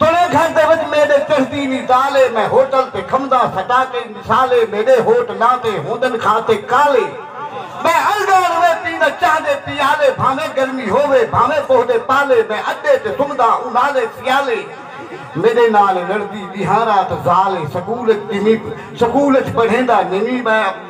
ترے گھر دے وچ میڈے چہدی نی زال اے میں ہوٹل تے کھمدا سٹا کئی مثال اے میڈے ہوٹ لاں تے ہوندن کھا تے کالے میں الڈا روے پیندا چاہ دے پیالے بھانویں گرمی ہووے بھانویں پوہدے پالے میں اڈے تے سمدا اونالے سیالے میڈے نال لڑدی ڈیہاں رات زال اے سکول اچ سکول اچ پڑھیندا نینی میں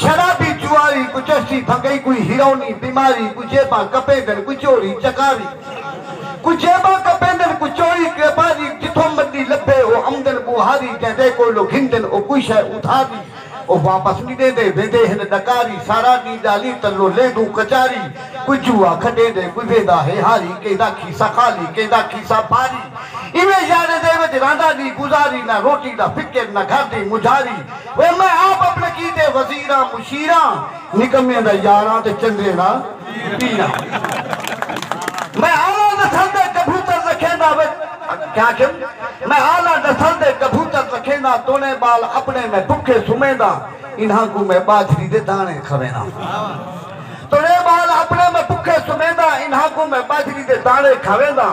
شرابی جواری کوں چشتی بھنگئی کوئی ہیرونی بیماری کوں جیباں کپیندن کوئی چوری چکاری کوں جیباں کپیندن کوئی چوری کیپاری جتھوں مڈی لبھے او امدن بوہاری جیندے کولوں گھندن او کوئی شے ادھاری او واپس نی ڈیندے ویندے ہن ڈکاری سارا ڈینہہ ڈالی تلوں لیندوں کچاری کوئی جوا کھڈیندے کوئی ویندا ہے ہاری کیندا کھیسہ خالی کیندا کھیسہ بھاری ایویں یاریں دے وچ راندا ڈینہہ گزاری نہ روٹی دا فکر نہ گھر دی مجھاری وے میں آپ اپنے کیتے وزیراں مشیراں نکمیاں دا یاراں تے چنگیاں دا پیراں میں آلاں نسل دے کبوتر رکھینداں وے کیا آکھیم میں آلاں نسل دے کبوتر رکھینداں تونے بال اپنے میں بکھے سمینداں انہاں کوں میں باجری دے دانے کھوینداں تونے بال اپنے میں بکھے سمینداں انہاں کوں میں باجری دے دانے کھوینداں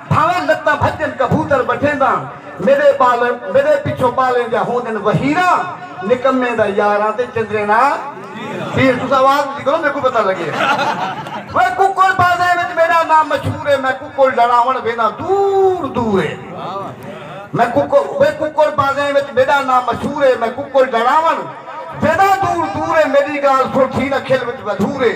بھانویں لتاں بھڄن کبوتر بٹھینداں میݙے ٻال میݙے پچھوں ٻالیں دیاں ہوندن وہیراں نکمیں دا یاراں تے چندریں دا پیر تساں آواز اچی کرو میکوں پتہ لڳے اوئے ککڑ بازیں وچ میݙا ناں مشہور ہے میں ککڑ لڑاوݨ وینداں دور دور ہے میں ککڑ اوئے ککڑ بازیں وچ میݙا ناں مشہور ہے میں ککڑ لڑاوݨ وینداں دور دور ہے میݙی ڳالھ سݨ تھی نہ کھل وچ ودھور ہے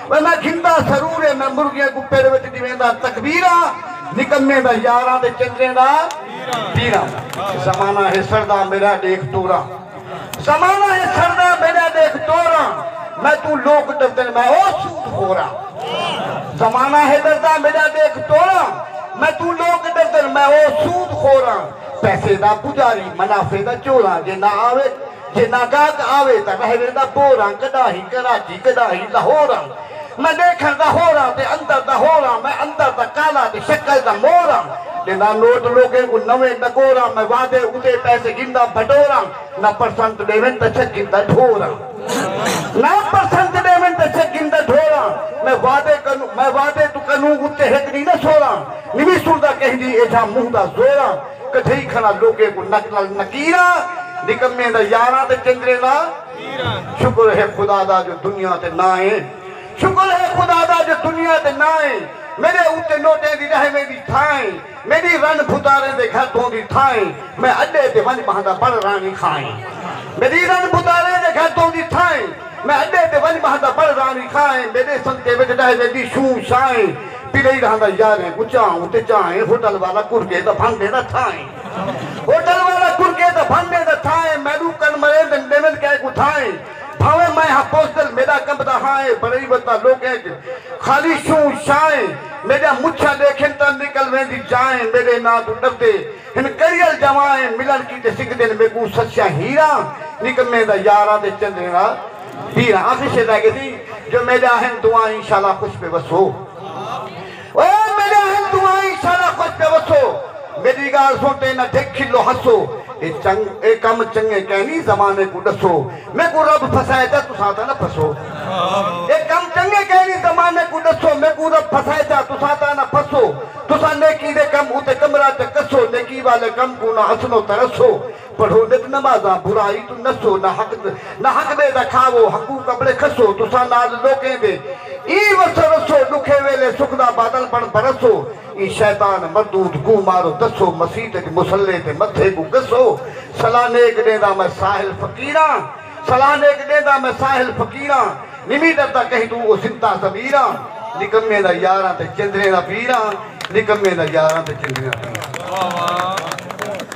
وے میں گھندا سرور اے میں مرغیاں کوں پڑ وچ ڈیوندا تکبیراں نکمیں دا یاراں تے چندریں دا پیراں زمانہ ہے سڑدا میڈا ڈیکھ توراں زمانہ ہے سڑدا میڈا ڈیکھ توراں میں توں لوک ڈردن میں او سود خوراں زمانہ ہے ڈردا میڈا ڈیکھ توراں میں توں لوک ڈردن میں او سود خوراں پیسے دا پجاری منافع دا چوراں جے نہ آوے جے نہ گاہک آوے تاں رہ ویندا بوراں کڈاہیں کراچی کڈاہیں لہوراں میں ڈیکھن دا ہوراں تے اندر دا ہوراں میں اندر دا کالا تے شکل دا موراں ڈیندا نوٹ لوکیں کوں نویں ڈکوراں میں وعدے اتے پیسے گھندا بھٹوراں نہ پرسنٹ ڈیون تاں چھک گھندا ڈھوراں نہ پرسنٹ ڈیون تاں چھک گھندا ڈھوراں میں وعدے کنوں میں وعدے توں کنوں اتے ہک ڈینہہ نہ سوراں نویں سندا کہیں دی ایجھا منہ دا زوراں کڈھئی کھڑا لوکیں کوں نک نال نکیراں نکمیں دا یاراں تے چندریں دا پیراں شکر ہے خدا دا جو دنیا تے نہ اے شکر ہے خدا دا جو دنیا تے نہ اے میڈے اتے نوٹیں دی رہ ویندی تھاں اے میڈی رن بھتاریں دے گھر دوندی تھاں اے میں اڈے تے ونج بہندا بڑ رانی کھاں اے میڈی رن بھتاریں دے گھر دوندی تھاں اے میں اڈے تے ونج بہندا بڑ رانی کھاں اے میڈے سنکے وچ رہ ویندی شوں شاں اے پلئی رہندا یاریں کوں چاہوں تے چاہیں ہوٹل والا کڑکے دا بھن ڈیندا تھائیں ہوٹل والا کڑکے دا بھن ڈیندا تھائیں میڈوں کن مریں تے ڈیون کہہ کوں تھائیں بھاویں میں ہاں بزدل میڈا کمبدا ہائیں بنئی وتاں لوکیں اچ خالی شوں شائیں میڈیاں مچھاں ڈیکھن تاں نکل ویندی جائیں میڈے ناں توں ڈردے ہن کڑیل جوائیں ملن کیتے سنگدن میکوں سسیاں ہیراں نکمیں دا یاراں تے چندریں دا پیر حاضر شے دا گدی جو میڈے آہن دعائیں انشاءاللہ خوش پہ وسو او میڈے آہن دعائیں انشاءاللہ خوش پہ وسو میڈی گال سن تے نہ ڈھک کھلو ہسو اے چنگ اے کم چنگے کینی زمانے کو ڈسو میں کو رب پھسائے جا تساں تا نہ پھسو اے کم چنگے کینی زمانے کو ڈسو میں کو رب پھسائے جا تساں تا نہ پھسو تساں نیکی دے کم اتے کمرہ چ کسو نیکی والے کم کو نہ اسنو ترسو پڑھو نت نمازاں برائی توں نسو نہ حق نہ حق ٻئے دا کھاوو حقوق اپݨے کھسو تساں نال لوکیں دے ایں وسو رسو ݙکھے ویلے سکھ دا بادل بݨ برسو ایں شیطان مردود کوں مارو دسو مسیت اچ مصلی تے متھے کوں گھسو صلاح نیک ݙینداں میں ساحل فقیراں صلاح نیک ݙینداں میں ساحل فقیراں نمی ݙردا کہیں توں او زندہ ضمیراں نکمیں دا یاراں تے چندریں دا پیراں نکمیں دا یاراں تے چندریں دا پیراں۔